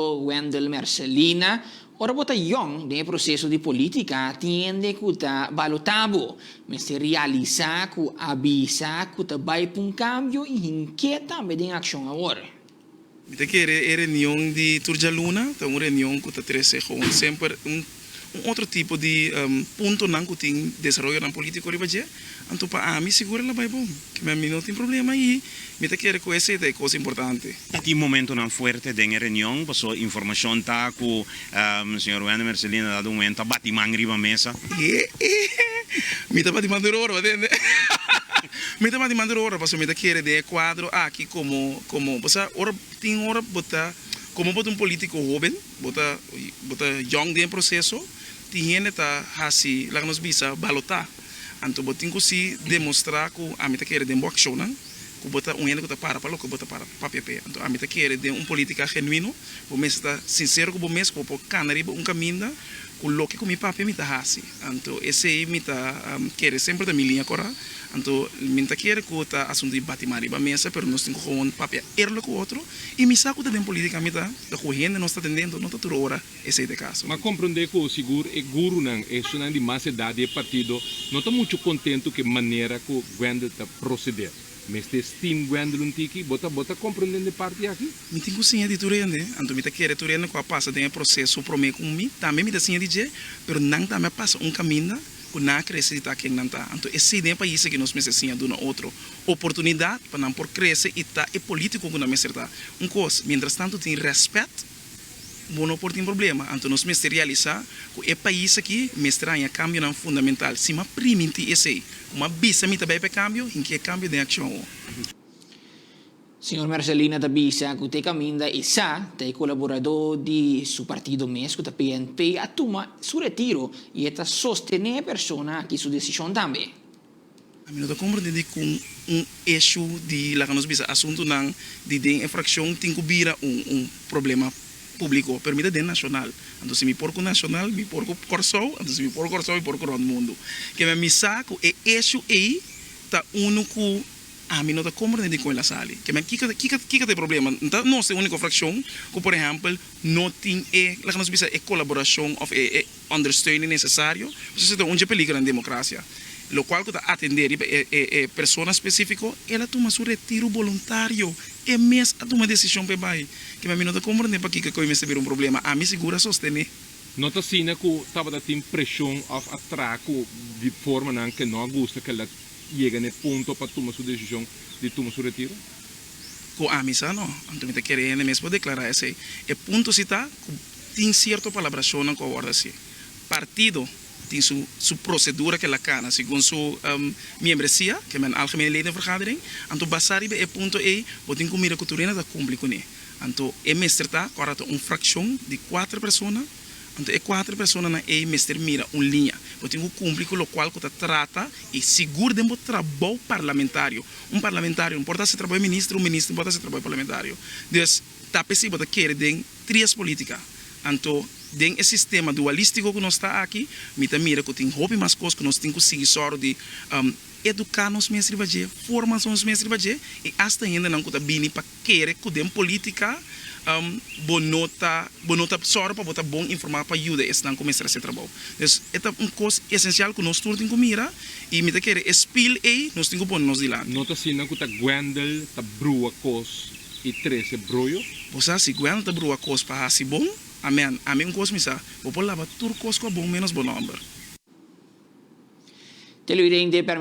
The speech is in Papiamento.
Wendel Mercelina, Ora bo ta yòn den e proseso di polítika tin hende ku ta balotá bo. Mester realisá ku a bisa ku ta bai pa un kambio i hink'é tambe den akshon awor. Mi ta kere e reunion di tur djaluna ta un reunion ku ta trese gewoon semper un un otro tipo di puntonan ku tin desaroyonan polítiko riba dje, anto pa ami sigur el a bai bon. Kimin mi no tin problema i mi ta kere ku esei ta e kos importante. Ta tin momentonan fuerte den e reunion, paso informashon ta ku señor Wende Mercelin a dado un wenta bati man riba mesa. Ehe, mi ta bati man tur ora, bo tende. Mi ta bati man tur ora paso mi ta kere den e kuadro aki komo, komo, bo sa ora tin ora bo ta, komo bo ta un polítiko hoben, Bo ta bo ta yong den e proseso, tin hende ta hasi laga nos bisa balotá, anto bo tin ku si demostrá ku ami ta kere den bo akshonnan ku bo ta un hende ku ta para pa loke bo ta para pa papia p'e, anto ami ta kere den un polítika genuino, bo mester ta sinsero ku bo mes ku bo por kana riba un kaminda ku loke ku mi papia mi ta hasi. Anto esei mi ta kere semper ta mi liña kora. Anto mi no ta kere ku ta asuntu di bati man riba mesa, pero nos tin ku gewoon papia eerlijk ku otro. I mi sa ku ta den polítika mi ta ta ku hende nos ta tende, anto no ta tur ora esei ta e kaso. M'a komprondé ku sigur e gurunan, esunnan di mas edat di e partido, no ta muchu kontentu ku e manera ku Wendell ta prosedé. Mester estim Gwendolyn Tiki, bo ta bo ta comprendende parti aki? Mi tin cu siña di tur hende, anto mi ta kere tur hende cu a pasa den e proceso prome cu mi tambe mi ta siña di dje, pero nan tambe a pasa un caminda cu nan a crece di ta ken nan ta. Anto esey den e pais aki nos mester siña duna otro oportunidad pa nan por crece y ta e politico cu nan mester ta. Un cos, mientras tanto tin respet. Bo no por tin problema, anto nos mester realisá ku e pais akí mester haña kambionan fundamental. Sima primintí esei ku m'a bisa mi ta bai pa e kambio, hinki e kambio den akshon. Señor Mercelina ta bisa ku te kaminda i sa ta e kolaboradó di su partido mes ku ta PNP a tuma su retiro i e ta sostené e persona akí su desishon tambe. Mi no ta komprende di kon un ishu di, laga nos bisa, asuntunan di den e frakshon tin ku bira un problema públiko. Pero mi ta den nashonal, anto si mi por ku nashonal, mi por ku Kòrsou, anto si mi por ku Kòrsou, mi por ku rònt mundu. Keme mi sa ku e ishu ei ta unu ku ami no ta komprende di kon el a sali. Keme kiko kiko kiko ta e problema? N ta nos e úniko frakshon ku, por ehèmpel, no tin e, laga nos bisa, e kolaborashon òf e. Ondersteuning necesario, Nos esaki ta un dje peligro na democracia, locual cu ta atende riba e persona specifico, el a tuma su retiro voluntario, e mes a tuma decision pa e bay, kima mi no ta comprende pakico cu e mester bira un problema, ami sigur a sostene. No ta asina cu tabata tin presion of atra cu di formanan cu no a gusta cu el a yega na e punto pa tuma su decision di tuma su retiro? Cu ami sa no, anto mi ta kere hende mes por declara esey. E punto si ta cu Tin cierto palabracionnan cu a word haci. Partido tin su su procedura cu el a cana segun su miembresia, que men algemene leden vergadering. Anto basa riba e punto ey bo tin cu mira cu tur ene ta cumpli cune. Anto e mester ta cu a ta un fraccion di cuater persona, anto e cuater personanan ey mester mira un linea. Bo tin cu cumpli cu locual cu ta trata y sigur den bo trabou parlamentario. Un parlamentario no por ta haci trabou e minister, un minister no por ta haci trabou e parlamentario. Ta p'esei bo ta kere den tries politica. Anto, den e sistema dualistico cu nos ta aki, mi ta mira cu tin hopi mas cos cu nos tin cu sigui sòru di educa nos mes riba dje, forma nos mes riba dje y hasta hendenan cu ta bini pa kere cu den politica bo no ta bo no ta sòru pa bo ta bon informa pa yuda esnan cu mester haci e trabou. Des, e ta un cos esencial cu nos tur tin cu mira y mi ta kere e spil ei nos tin cu pone nos di lanti. No ta asina cu ta Gwendel ta brua cos. i trese broyo. Bo sa, si Guelta brua kos pa hasi bon, amèn. Ami un kos mi sa, bo por laba tur kos ku a bon ménos bo nòmber.